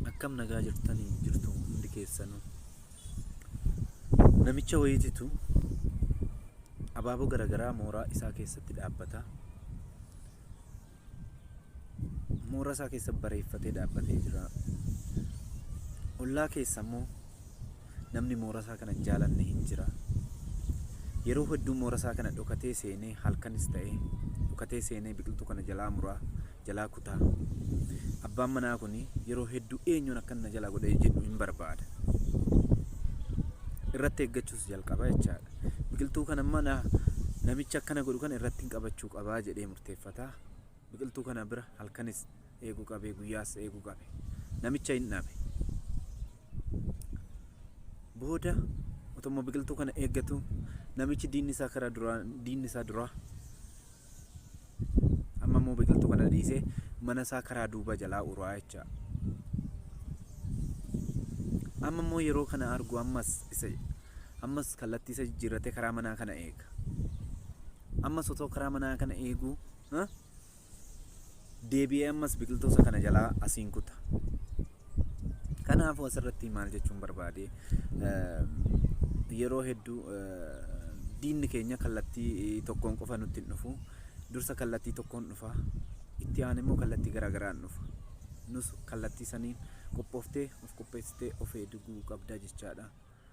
akkam nagaa jirtanii jirtu hundi keessanu namicha wayiititu abaaboo garagaraa mooraa isaa keessatti dhaabbata mooraa isaa keessa bareeffatee dhaabbatee jira ollaa keessa immoo namni mooraa isaa kana jaalanne hin jira yeroo hedduu mooraa isaa kana dhokatee seenee halkanis ta'ee dhokatee seenee biqiltuu kana jalaa muraa jalaa kutaa. Abbaan manaa kun yeroo hedduu eenyuun akkan na jalaa godhee jedhu hin barbaada. Irratti eeggachuus jalqaba jechaadha. Biqiltuu kana mana namicha akkana godhu kana irratti hin qabachuu qabaa jedhee murteeffata. Biqiltuu kana bira halkanis eeguu qabee guyyaas eeguu qabe. Namicha hin dhabe. Booda otoo biqiltuu kana eeggatu namichi diinni isaa karaa duraa diinni isaa duraa amma immoo biqiltuu kana dhiisee mana isaa karaa duuba jalaa uraa jecha amma immoo yeroo kana argu ammas isa ammas kallattii isa jijjiirratee karaa manaa kana eega ammas otoo karaa manaa kana eeguu ha? deebi'ee ammas biqiltuusa kana jalaa asiin kuta. Kanaafuu asirratti maal jechuun barbaade yeroo hedduu diinni keenya kallattii tokkoon qofa nutti hin dhufu. Dursa kallattii tokkoon dhufa. Itti aan immoo kallattii garaagaraan dhufa. Nus kallattii saniin qophooftee of qopheessitee of eeguu qabda jechaadha.